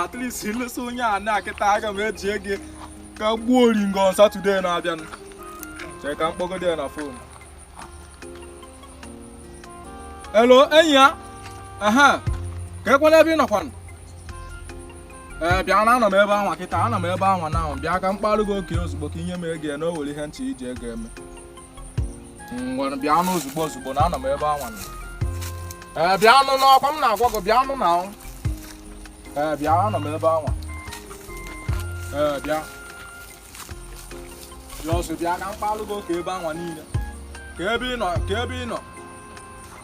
at least ilesa onye a ana kịta aga m eji ego ka gbuo oringo on Saturday na-abịanụ chee ka m kpọgodi ya na fon hello enyi a ehe kee kwanụ ebe ị nọkwanụ ee eh, bịa na anọ m ebe anwa kịta anọ m ebe anwa na ahụ bịa ka m kparụ gị oke ozugbo ka i nye m ego na o nwere ihe m chọrọ iji ego eme ngwanụ bịanụ ozugbo ozugbo na anọ m ebe anwa nọ. ee bịanụ n'ọkwa m na-agwa gị bịanụ na ọ. ee bịa anọ m ebe anwa ee bịa bịa ọsọ bịa ka m kpalụ gị oke ebe anwa niile kee ebe ị nọ kee ebe ị nọ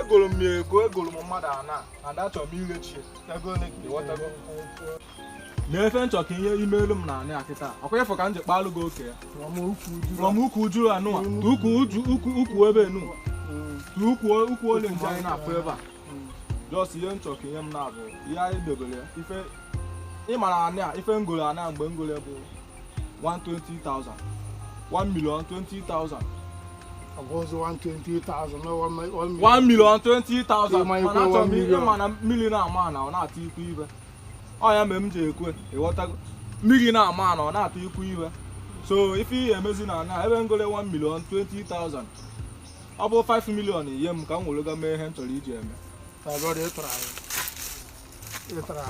egoro m ya ego egoro m mmadụ ana and achọrọ m irechi ego ole ka ịghọtago mee ife m chọ ka i meelụ m na anị a kịta ọkwa ịfụ ka m ji kpalụ gị oke ya rọm ukwu uju anụwa ukwu ube nụ ukwu olenji anyị na-afụ ebe a just ihe m chọ ka i nye m na-abụ ihe anyị debere ya ife ịmara anị a ife m golo anị a mgbe m golo bụ 120,000 1 million 20,000 Ọ bụ ọzọ 120,000 na 1 million. 1 million 20,000 Ịma ikwe mana achọrọ m 1 million. ịma na mmiri na-ama na ọ na-atụ ikwu ibe ọ ya mere m ji ekwe ịghọtago mmiri na-ama na ọ na-atụ ikwu ibe so ife ị ya-emezi na anị a ebe m golo 1 million 20,000 ọ bụ 5 million nye m ka m were ga mee ihe m chọrọ iji eme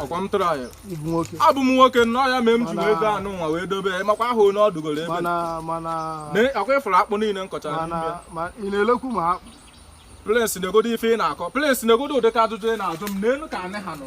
ọkwa m tụrụ anyị abụ m nwoke nnọọ ya mee m ji wee go anị nwa wee dobe ya makwa ahụ na ọ dụgoro ebe a ọkwa ịfụrụ akpụ niile m kọchara plens na-egodo ife ị na-akọ plens na-egodo ụdịka ajụjụ ị na-ajụ m n'elu ka anyị ha nọ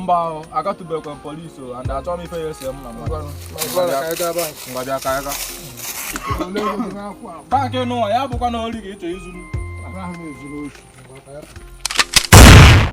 mba agatụbekwa police o and achọrọ m ife ya-ese m na mmadụ ngwa bịa ka a gaa bankị n'ụwa ya abụkwana ori ka ị chọ izu m